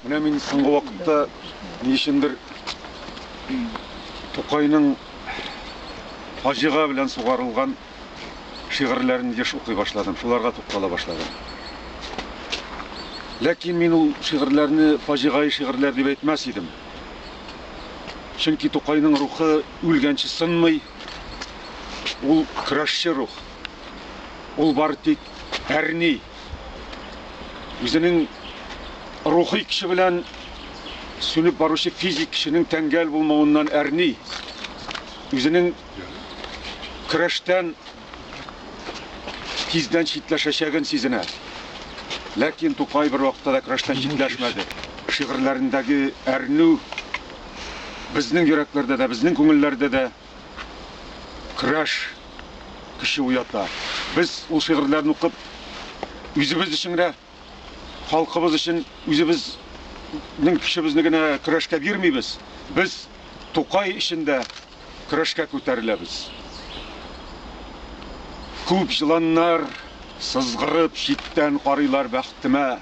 Менә мин соңгы вакытта ни өчендер Тукайның фаҗига белән сугарылган шигырьләрен еш укый башладым, шуларга туктала башладым. Ләкин мин ул шигырьләрне фаҗигаи шигырьләр дип әйтмәс идем. Чөнки Тукайның рухы үлгәнче сынмый. Ул көрәшче рух. Ул бары тик әрни. үзенең рухи көче белән сүнеп баручы физик кешенең тәңгәл булмавыннан әрни, үзенең көрәштән тиздән читләшәчәген сизенә. Ләкин Тукай бер вакытта да көрәштән читләшмәде. Шигырьләрендәге әрнү безнең йөрәкләрдә дә, безнең күңелләрдә дә Көрәш көче уята. Без ул шигырьләрне укып, үзебез өчен генә, халкыбыз өчен үзебезнең көчебезне генә көрәшкә бирмибез. Без Тукай өчен дә көрәшкә күтәреләбез. Күп җыланнар сызгырып читтән карыйлар бәхтемә.